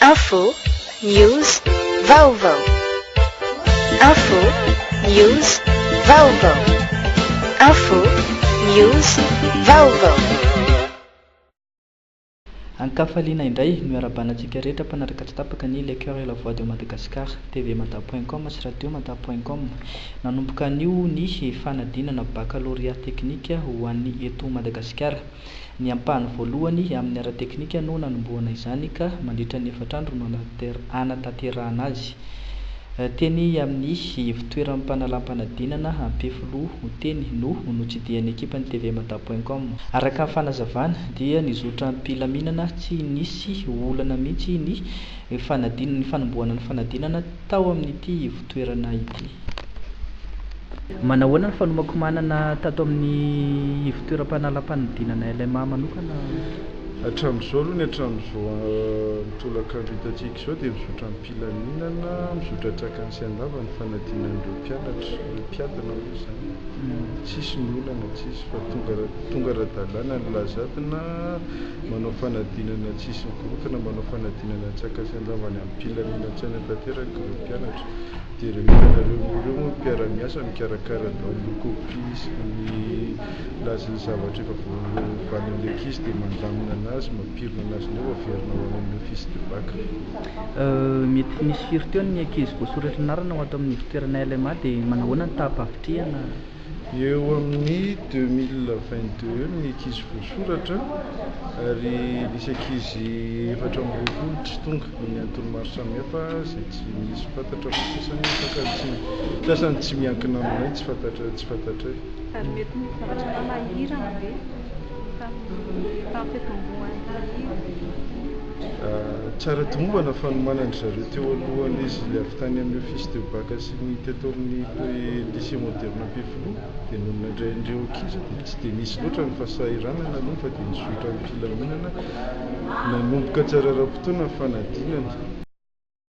Info, news, vaovao. Info, news, vaovao. Info, news, vaovao. Ankafaliana indray no iarabanantsika rehetra mpanaraka tsy tapaka ny Le Coeur et la Voix de Madagascar, tvmada point com sy radiomada point com. Nanomboka anio ny fanadinana bakalorea teknika ho an'ny eto Madagasikara. Ny ampahany voalohany amin'ny ara-teknika no nanombohana izany ka mandritra ny efatra andro no hanatanterahana azy. Teny amin'ny ivontoeran'ny mpanalam-panadinana Ampefiloha Oteny no notsidihan'ny ekipan'ny TV Mada point com. Araka ny fanazavana dia nizotra am-pilaminana tsy nisy olana mihitsy ny ny fanadin ny fanombohana ny fanadinana tao amin'ity ivotoerana ity. Manahoana ny fanomakomanana tato amin'ny ivotoeram-panalapanidinana LMA manokana? Hatramin'izao aloha ny hatramin'izao amin'ny tolakandro hitantsika izao dia mizotra am-pilaminana, mizotra trakany sy an-dava ny fanadinan'ireo mpianatra, ireo mpiadina moa izany. Tsisy ny olana, tsisy fa tonga tonga ara-dalàna ny lazadina manao fanadinana tsy hisy mikorontana, manao fanadinana an-tsakany sy an-davany amim-pilaminan-tsaina tanteraka ireo mpianatra. Dia ireo entana ireo ireo moa no mpiara-miasa mikarakara daholo ny kopia sy ny lazy ny zavatra efa voavalin'ny ankizy dia mandamina anazy, mampirina anazy indray vao averina ho any amin'ny office de bac. Mety ho nisy firy teo ny ankizy voasoratry ny anarana ho ato amin'ny ivotoerana LMA dia manahoana ny taham-pahavitrihana? Eo amin'ny deux mille vingt deux ny ankizy voasoratra ary nisy ankizy efatra amby roapolo tsy tonga amin'ny antony maro samihafa izay tsy misy fantatra fa sasany afaka ny tsy sasany tsy miankina aminay tsy fantatra tsy fantatray. Ary mety misy zavatra atao na hirana ve tamin'ny tamin'ny fitomboan'ny. Tsara tomombana fanomanan'dry zareo teo aloha an'izy avy tany amin'ny office de bac sy ny teto amin'ny lycée moderne Ampefiloha dia nony nandray an'ireo ankizy dia tsy dia nisy loatra ny fahasahiranana aloha fa dia nizotra am-pilaminana nanomboka tsara ara-potoana ny fanadinana.